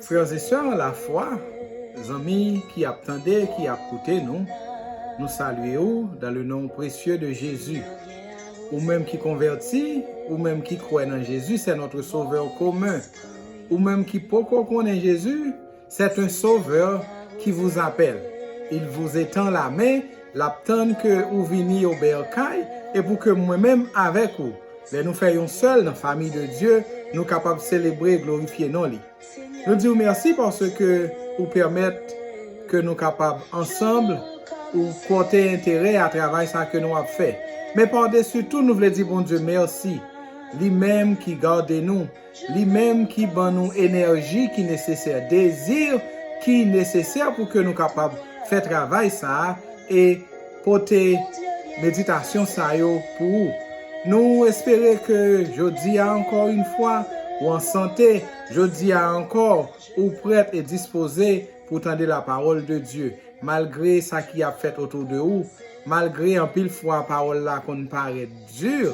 Frères et sœurs la foi, zanmi ki ap tande, ki ap koute nou, nou salye ou dans le nom précieux de Jésus. Ou menm ki konvèti, ou menm ki kwè nan Jésus c'est notre sauveur commun, ou menm ki poko konnen Jésus, C'est un sauveur qui vous appelle il vous etend la main lap tann ke ou vini yo berkay e pou ke mwen menm avèk ou lè nou fè yon sèl nan famiy de Dye nou kapab selebre e glorifye non li nou diw mèsi paske ou pèmèt ke nou kapab ansanm ou pòte enterè a travay sa ke nou ap fè men par desu tou nou vle di Bondye mèsi li menm ki gade nou Li menm ki ban nou enèji ki nesesè, dezi ki nesesè pou ke nou kapab fè travay sa a e pote meditasyon sa yo pou ou. Nou espere ke jodi a ankò yn fwa ou an sante, jodi a ankò ou prèt e dispoze pou tande la pawòl de Dye, malgre sa ki ap fèt otou de ou, malgre anpil fwa pawòl la konn parèt dur,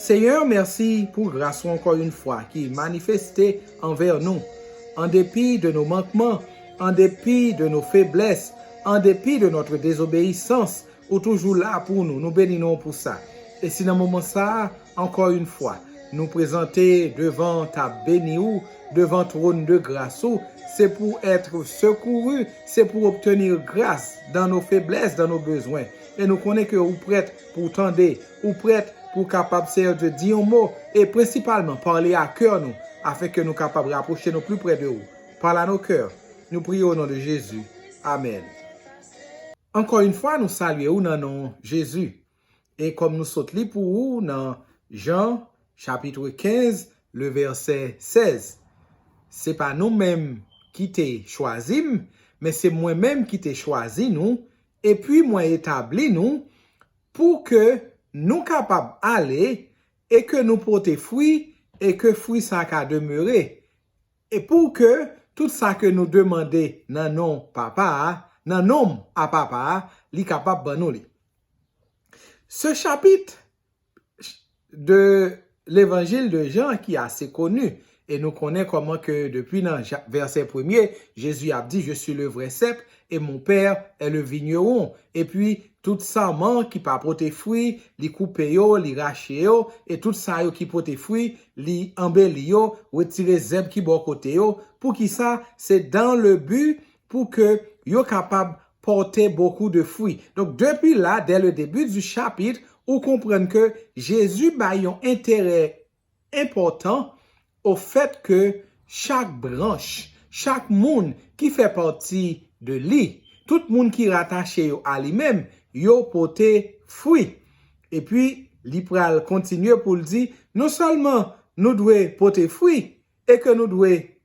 Senyè, mèsi pou gras ou ankò yon fwa ki manifeste anvè nou. An depi de nou mankman, an depi de nou feblès, an depi de notre désobéissance, ou toujou la pou nou, nou beni non ou pou sa. E si nan moman sa a, ankò yon fwa, nou prezante devan tab beni ou, devan trône de grâce ou, se pou être secouru, se pou obtenir grâce dans nos faiblesses, dans nos besoins. E nou konnen ke ou prèt pou w tande, Ou prèt pou w kapab Seyè Dye di yon mo e prensipalman pale a kè nou afin ke nou kapab rapwoche nou pli prè de ou. Parle à nos cœurs. Nou priye o non de Jezi. Amèn. Ankò yn fwa nou salye ou nan non Jezi. E kòm nou sot li pou ou nan Jan chapitre 15 le vèsè 16. Se pa nou menm ki te chwazi m, men se mwen menm ki te chwazi nou, epi mwen etabli nou Pou ke nou kapab ale, e ke nou pote fwi, e ke fwi sa ka demere, e pou ke tout sa ke nou demande nan non Papa a, nan non m a Papa a, li kapab ban nou li. Se chapit, de levanjil de Jan ki ase koni e nou konnen kòman ke depi nan vèsè premye Jezi ap di je suis le vrai cep et mon père est le vigneron epi tout sarman ki pa pote fwi li koupe yo li rache yo e tout sa yo ki pote fwi li anbeli yo retire zèb ki bò kote yo poukisa se dans le but pou ke yo kapab porte beaucoup de fruits. Donk depi la, dès le début du chapitre, ou konprann ke Jezi bay yon enterè enpòtan o fèt ke chak branch, chak moun ki fè pati de li, tout moun ki ratache yo a li menm, yo pote fwi. Epi li pral kontinye pou l di, non sèlman nou dwe pote fwi e ke nou dwe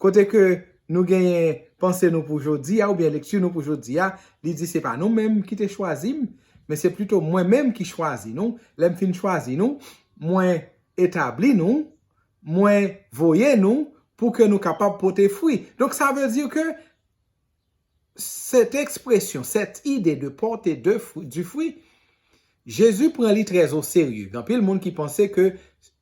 Kote ke nou genyen panse nou pou jodi a oubyen lekti nou pou jodi a, li di se pa nou menm ki te chwazi m, men se plito mwen menm ki chwazi nou, lè m fin chwazi nou, mwen etabli nou, mwen voye nou pou ke nou kapab pote fwi. Donk sa vle di ke Cette expression, cette idée de porter de fruit, du fruit, Jésus pran li très au sérieux. Gen anpil moun ki panse ke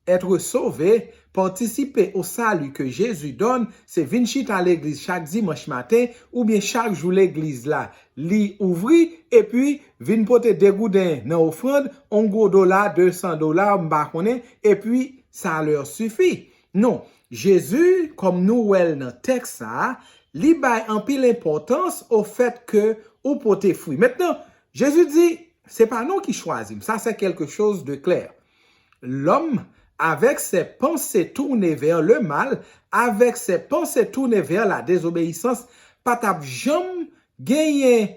être sauvé, participer au salut que Jésus donne, se vin chita legliz chak dimanch maten oubyen chak jou legliz la li ouvri epi vin pote 2 gouden nan ofrand, on gwo dola, 200 dola, m pa konnen, epi ça leur suffit. Non, Jezi, kòm nou wè l nan tèks sa a, li bay anpil enpòtans ofèt ke ou pote fwi. Mentnan, Jezi di, Se pa nou ki chwazi m, sa sè kèlke choz de klè. Lòm, avèk sè panse tourne vè le mal, avèk sè panse tourne vè la dezobeyisans, pa t ap janm genyen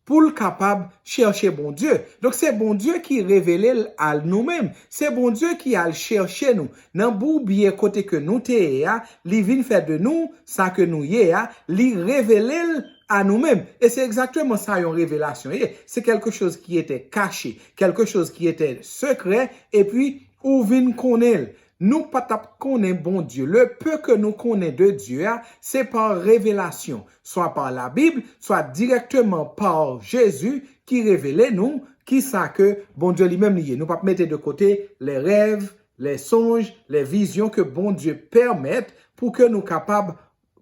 pou l kapab chèche Bondye. Donk se Bondye ki revele l a nou menm. Se Bondye ki al chèche nou nan bourbiye kote ke nou te ye a, li vin fè de nou sa ke nou ye a, li revele l a nou menm. E se egzakteman sa yon revelasyon ye. Se kèlke choz ki ete kache, kèlke choz ki ete sekrè, epi ou vin konnen l. Nou pa t ap konnen Bondye. Le peu ke nou konnen de Dye a, se pa revelasyon, swa pa la Bib, swa dirèkteman pa Jezi ki revele nou ki sa ke Bondye li menm li ye. Nou pa p mete de kote lè rèv, lè sonj, lè vizyon ke Bondye pèmèt pou ke nou kapab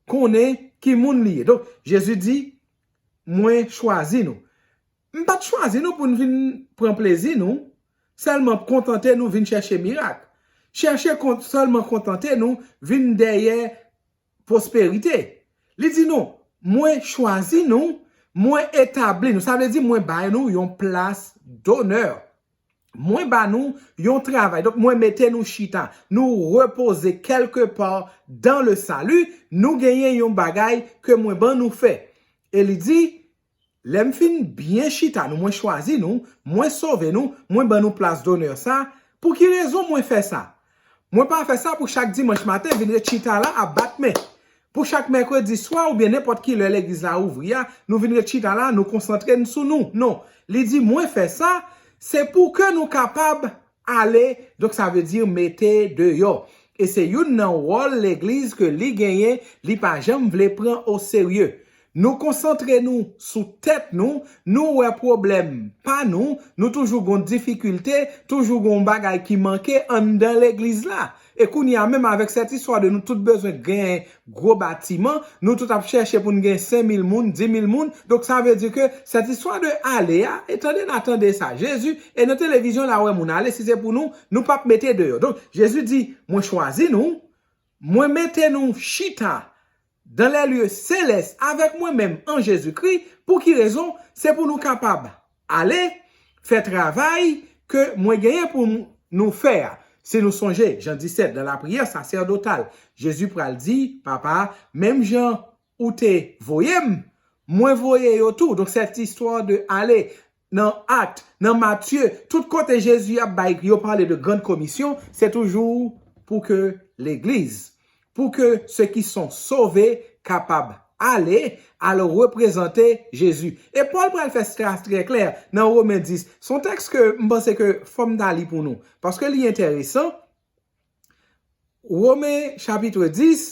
konnen ki moun li ye. Donk, Jezi di, Mwen chwazi nou. M pa t chwazi nou pou n vin pran plezi nou, sèlman kontante nou vin chèche mirak, chèche sèlman kontante nou vin dèyè pwosperite. Li di nou, Mwen chwazi nou, mwen etabli nou, sa vle di mwen bay nou yon plas donè. Mwen ba nou yon travay, donk mwen mete nou chita, nou repoze kèlke pa dan le sali, nou genyen yon bagay ke mwen ban nou fè. E li di, Lè m fin byen chita nou, mwen chwazi nou, mwen sove nou, mwen ban nou plas donè sa, pou ki rezon mwen fè sa? Mwen pa fè sa pou chak dimanch maten vin ret chita la ap bat men. Pou chak mèkredi swa oubyen nenpòt ki lè legliz la ouvri a, nou vin ret chita la, nou konsantre n sou nou. Non, li di mwen fè sa, se pou ke nou kapab Ale, donk sa vle di mete deyò. E se youn nan wòl legliz ke li genyen, li pa janm vle pran o serye. Nou konsantre nou sou tèt nou, nou wè pwoblèm pa nou, nou toujou gon difikilte, toujou gon bagay ki manke anndan legliz la. E kounye a menm avèk sèt istwa de nou tout bezwen gen gwo batiman, nou tout ap chèche pou n gen 5000 moun, 10000 moun, donk sa vle di ke sèt istwa de ale a, e tande la, tande sa, Jezi, e nan televizion la wè moun ale, si se pou nou, nou p ap mete deyò. Donk Jezi di, mwen chwazi nou, mwen mete nou chita Dan lè lye selès avèk mwen menm an Jezikri, pou ki rezon? Se pou nou kapab ale, fè travay ke mwen genyen pou m nou fè a. Si nou sonje, Jan 17, nan lapriyè sasèdotal, Jezi pral di, Papa, menm jan ou te voye m, mwen voye yo tou. Donk, cette histoire de aller, Nan Acte, nan Matthieu, tout kote Jezi ap bay yo pale de grand commission, se toujou pou ke legliz, pou ke se ki son sove kapab ale, al reprezante Jezi. E Paul pral fè sa trè klè nan Romain 10. Son tèks ke m panse ke fò m ta li pou nou, paske li enteresan, Romain chapitre 10,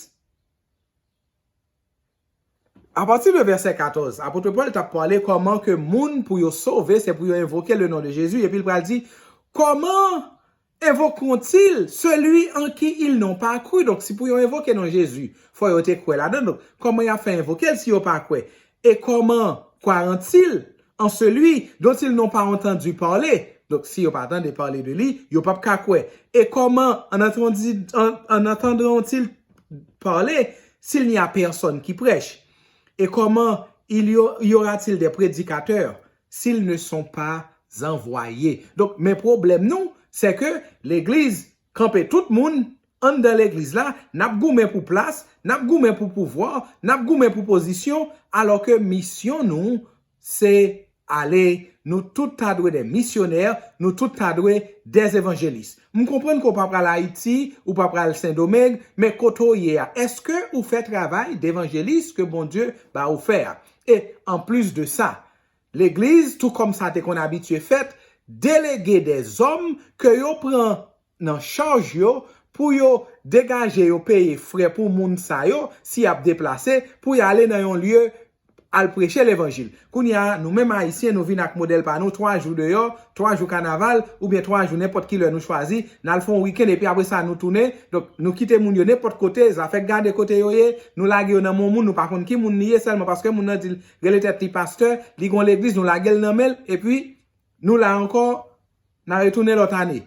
Apati de vèsè 14, apotre Pòl t ap pale kòman ke moun pou yo sove se pou yo envoke le non de Jezi epi l pral di kòman Invoqueront-ils celui en qui ils n'ont pas cru? Donk si pou yo envoke non Jezi fò yo te kwè ladan l, donk kòman y ap fè envoke l si yo pa kwè? Et comment croiront-ils en celui dont ils n'ont pas entendu parler? Donk si yo pa tande pale de li, yo p ap ka kwè. Et comment en entendront-ils parle s'il n'y a personne qui prêche? Et comment il y aura-t-il des prédicateurs s'ils ne sont pas envoyés? Donk men pwoblèm nou, c'est que legliz kanpe tout moun anndan legliz la, n'ap goumen pou plas, n'ap goumen pou pouvwa, n'ap goumen pou pozisyon, alors que misyon nou Se, ale, nou tout ta dwe de misyonè, nou tout ta dwe de evanjelis. M konprann ke w pa pral Ayiti, ou pa pral Sendomeng, men kote w ye a, èske ou fè travay devanjelis ke Bondye ba ou fè a? E, anplis de sa, Legliz, tou kòm sa te konn abitye fèt, delege de zòm ke yo pran nan chaj yo pou yo degaje yo peye frè pou moun sa yo si yap deplase pou y ale nan yon lye al preche levanjil. Kounye a nou menm ayisyen nou vin ak modèl pa nou 3 jou deyò, 3 jou kanaval oubyen 3 jou nenpòt ki lè nou chwazi n al fè yon weekend epi apre sa nou tounen donk nou kite moun yo nenpòt kote zafè gade kote yo ye nou lage yo nan men yon moun nou pa konn ki moun li ye sèlman paske moun nan di l rele tèt li pastè li gen yon legliz nou lage l nan men l epi nou la ankò Na retounen lòt ane.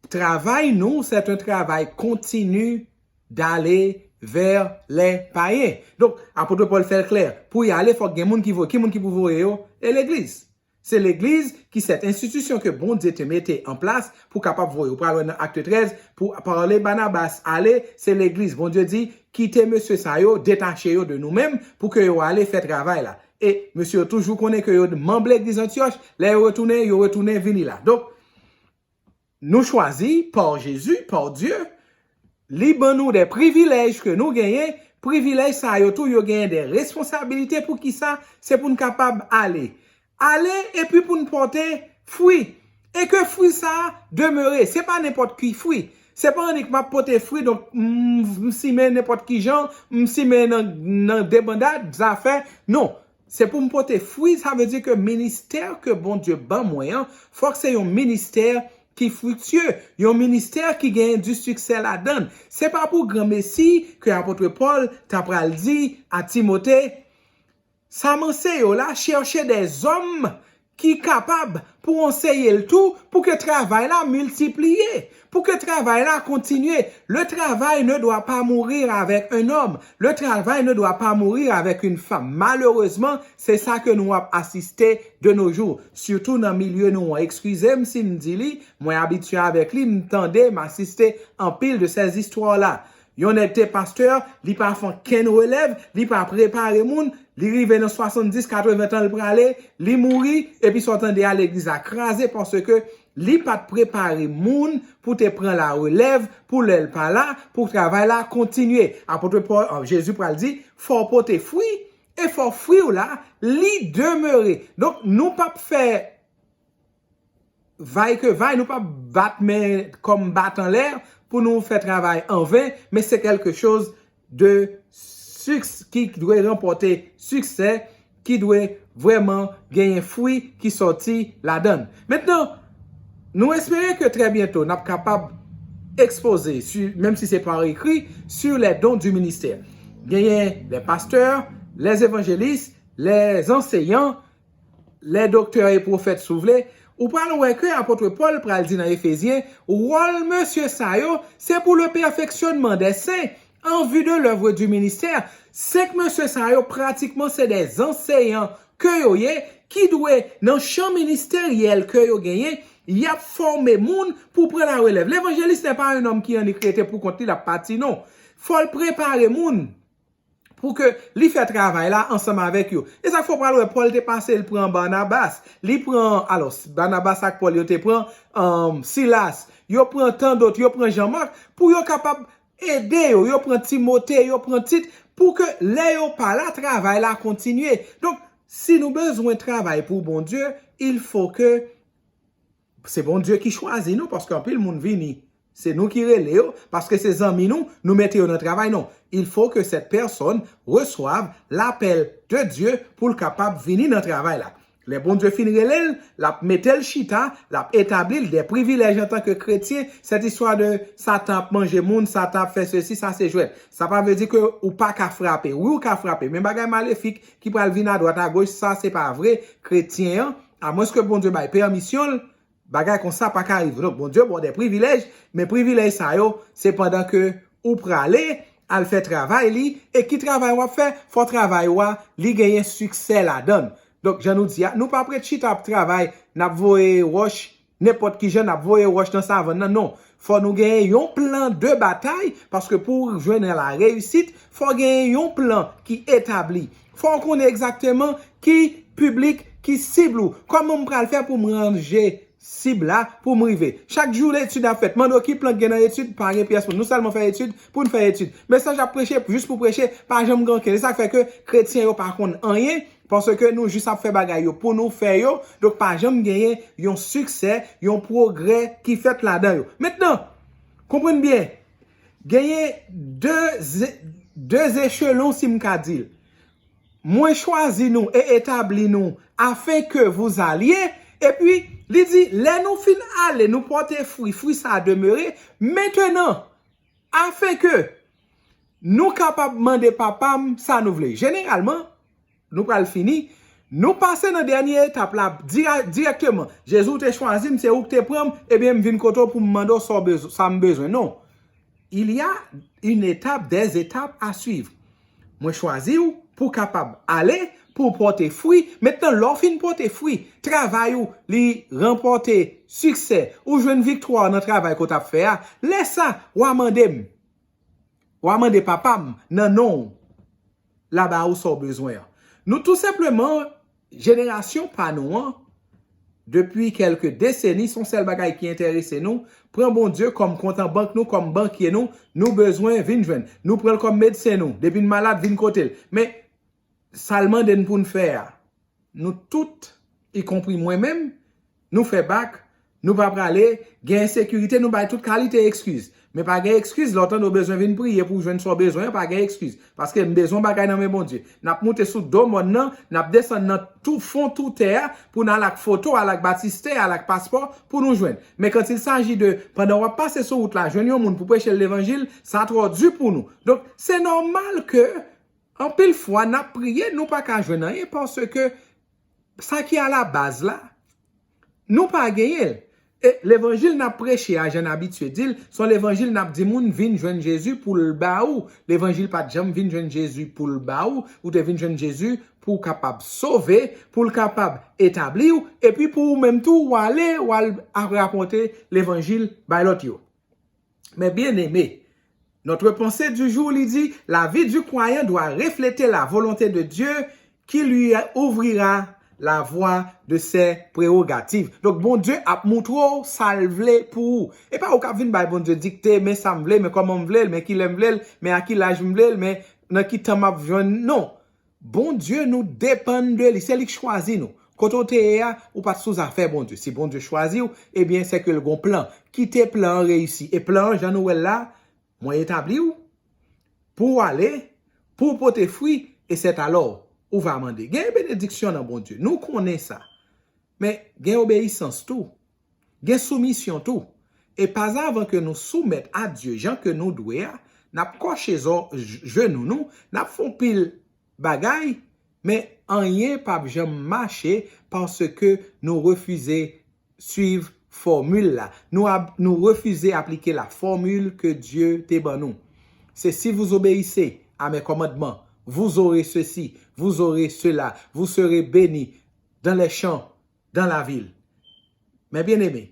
Travay nou c'est un travail continu d'aller vers les païens. Donk, Apôtre Paul fè l klè, pou y ale fòk gen moun ki voye. Ki moun ki pou voye yo? E legliz. Se legliz ki cette institution ke Bondye te mete an plas pou kapab voye. Ou pral wè nan Acte 13, pou Paul e Barnabas ale, se legliz Bondye di, kite mesye sa yo, detache yo de nou menm, pou ke yo ale fè travay la. E mesye yo toujou konnen ke yo manb legliz Antioch, lè yo retounen, yo retounen vini la. Donk, nou chwazi par Jezi, par Dye, li ban nou de privilèj ke nou genyen, privilèj sa yo tou yo genyen de responsabilite pou kisa, se pou n kapab ale. Ale epi pou n pote fwi. E ke fwi sa a demere. Se pa nenpòt ki fwi. Se pa annik m ap pote fwi donk m simen nenpòt ki jan, m simen nan debandad zafè. Non. Se pou m pote fwi sa vle di ke ministè ke Bondye ban mwen an fòk se yon ministè ki fwiktye, yon ministè ki gen di siksè ladan l. Se pa pou granmesi ke apotre Pòl ta pral di a Timote, Sa m anseye w la, chèche de zòm ki kapab pou w anseye l tou pou ke travay la miltipliye, pou ke travay la kontinye. Le travay ne dwa pa mourir avèk un nòm, le travay ne dwa pa mourir avèk un fanm. Malerezman, se sa ke nou ap asiste de no jou. Sitou nan milye nou an. Ekskize m si m di li, mwen abitye avèk li, m tande, m asiste anpil de sèzistwa la. Yon nèg te pastè, li pa fè ankenn relèv, li pa prepare moun, li rive nan 70, 80 tan li prale, li mouri, epi sa w tande a legliz la kraze paske li pa t prepare moun pou te pran la relèv pou lè l pa la, pou travay la kontinye. Apotre Pòl, Jezi pral di, fò w pote fwi, e fò fwi w la, li demere. Donk nou p ap fè. Vay ke vay nou pap bat men kom bat anlè pou nou fè travay an ven men se kelke choz de siks ki dwe ranpote siksè ki dwe vreman genyen fwi ki soti ladann. Mentnan nou espere ke trè byento nap kapab ekspoze su menm si se par ekri su lè don di ministè. Genyen lè pastè, lè evanjelis, lè anseyan, Lè doktè e pwofèt si w vle, ou pral wè ke apotre Pòl pral di nan Efezyen, wòl mesye sa yo, se pou le perfectionnement des saints, en vue de l'oeuvre du ministère, 5 mesye sa yo pratikman se de zanseyan ke yo ye, ki dwe nan chan ministeryèl ke yo genyen, y ap fòme moun pou pran la relèv. Levanjelis nè pa un homme ki annik rete pou kont li l ap pati non. Fò l prepare moun. pou ke li fè travay la ansanm avèk yo. E sa k fè w pral wè Pòl te pase l pran Barnabas, li pran, alò, Barnabas ak Pòl yo te pran Silas, yo pran tandòt, yo pran Jan Mak, pou yo kapab ede yo, yo pran Timote, yo pran Tit, pou ke lè yo pa la, travay la kontinye. Donk, si nou bezwen travay pou Bondye, il fò ke. Se Bondye ki chwazi nou paske anpil moun vini se nou ki rele yo paske se zanmi nou nou mete yo nan travay non il faut que cette personne reçoive l'appel de Dieu poul kapab vini nan travay la lè Bondye fin relel lap metel chita lap etablil des privilèges antan ke kretyen cette histoire de satan ap manje moun satan ap fè sesi sa se jwèt sa pa vle di ke ou paka frape wi ou ka frape men bagay malefik ki pral vin adwat agoch sa se pa vre kretyen an A mwens ke Bondye bay pèmisyon l, bagay konsa pa ka rive. Donk Bondye ba w de privilèj, men privilèj sa yo se pandan ke ou prale al fè travay li, e ki travay w ap fè? Fò travay ou a li genyen siksè ladan l. Donk jan nou di a, nou pa prèt chita ap travay, n ap voye wòch Nenpòt ki jan nap voye ròch nan savann nan non, fò nou genyen yon plan de batay, paske pouw jwenn nan la reyisit, fò genyen yon plan ki etabli, fòw konnen egzakteman ki piblik ki sibl ou, kòman m pral fè poum ranje sib la poum rive, chak jou etid ap fèt, mande w ki plan ki gen nan etid, pa gen pyès moun, nou sèlman fè etid poun fè etid, mesaj ap preche jis pou preche, pa janm gen ankenn, esak fè ke kretyen yo pa konn anyen, Paske nou jis ap fè bagay yo pou nou fè yo, donk pa janm genyen yon siksè, yon pwogrè ki fèt ladan yo. Mentnan, konprann byen, genyen de zechelon si m ka di l. Mwen chwazi nou e etabli nou afen ke vous alye, epi li di lè nou fin ale nou pòte fwi, fwi sa a demere, mentenan, Afin ke Nou kapab mande Papa m sa nou vle. Jeneralman, nou pral fini, nou pase nan dènye etap la dirèkteman. Jezi ou te chwazi m, se ou ki te pran m, ebyen m vin kote w pou m mande w sa m bezwen. Non. Il y a une étape, des étapes à suivre. Mwen chwazi w pou w kapab ale, pou w pòte fwi. Mentnan lè w fin pòte fwi, travay ou li ranpòte siksè, ou jwenn viktwa w nan travay ke w t ap fè a, lè sa, w a mande m, w a mande Papa m nan non w, l a ba ou sa w bezwen an. Nou tou senpleman. Jenerasyon pa nou an, depi kèlke deseni, son sèl bagay ki enterese nou, pran Bondye kòm kont an bank nou, kòm bankye nou, nou bezwen, vin jwenn. Nou pran l kòm medsen nou, depi n malad, vin kote l. Men, sa l mande n pou n fè a, nou tout, ikonpri mwen menm, nou fè bak, nou pa prale, gen ensekirite, nou bay tout kalite ekskiz. Men pa gen ekskiz lè w tande w bezwen vin priye pou w jwenn sa w bezwen an, pa gen ekskiz. Paske m bezwen yon bagay nan men Bondye. N ap moute sou do mòn nan, n ap desann nan tou fon tou tè a pou n al ak foto, al ak batistè, al ak paspò pou nou jwenn. Men quand il s'agit de pandan w ap pase sou wout la jwenn yon moun pou preche l levanjil, sa twò di pou nou. Donk, se nòmal ke anpil fwa n ap priye nou pa ka jwenn anyen paske Sa ki alabaz la, nou pa genyen l. E levanjil n ap preche a, jan n abitye di l, s on levanjil n ap di moun vin jwenn Jezi pou l ba ou. Levanjil pa t janm vin jwenn Jezi pou l ba ou. Ou te vin jwenn Jezi pou w kapab sove, pou l kapab etabli ou, epi pou ou menm tou w ale w al rakonte levanjil bay lòt yo. Mes bien-aimés, notre pensée du jour li di, La vie du croyant doit refleter la volonté de Dieu qui lui ouvrira la voie de ses prérogatives. Donk Bondye ap moutre w sa l vle pou ou. E pa ou k ap vin bay Bondye dikte, men sa m vle, men kòman m vle l, men ki lè m vle l, men a ki laj m vle l, men nan ki tan m ap jwenn l. Non! Bondye nou depann de li, se li k chwazi nou. Kote w te ye a, ou pa t sou zafè Bondye. Si Bondye chwazi w, ebyen se ke l gon plan. Kite plan an reyisi. E plan an jan nou wè l la, mwen etabli w, pou w ale, pou w pote fwi, e sètalò, ou va mande. Gen benediksyon nan Bondye. Nou konnen sa. Men, gen obeyisans tou. Gen soumisyon tou. E pa zavan ke nou soumèt a Dye jan ke nou dwe a, n ap kòche zò jenou nou, n ap fon pil bagay, men anyen pap janm mache paske nou refize swiv fòmil la. Nou refize aplike la fòmil ke Dye te ban nou. Se si vous obéissez à mes commandements, vous aurez ceci, vous aurez cela, vous serez béni dans les champs, dan la vil. Mè byen eme,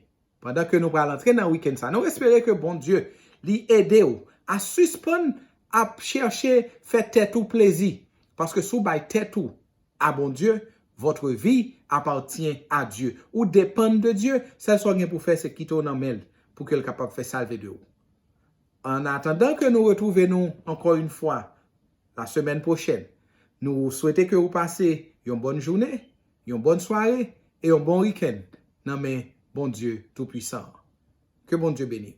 pandan ke nou pral antre nan wikenn sa, nou espere ke Bondye li ede ou a sispann ap chèche fè tèt ou plezi, paske si w bay tèt ou a Bondye, votre vie appartient à Dieu, ou depann de Dye, sèl sa w gen pou fè se kite w nan men l pou ke l kapab fè sa l vle de ou. An atandan ke nou retwouve nou ankò yn fwa la semèn pwochèn, nou swete ke ou pase yon bòn jounen, yon bòn sware e yon bon wikenn nan men Bondye Toupwisan an. Ke Bondye beni w!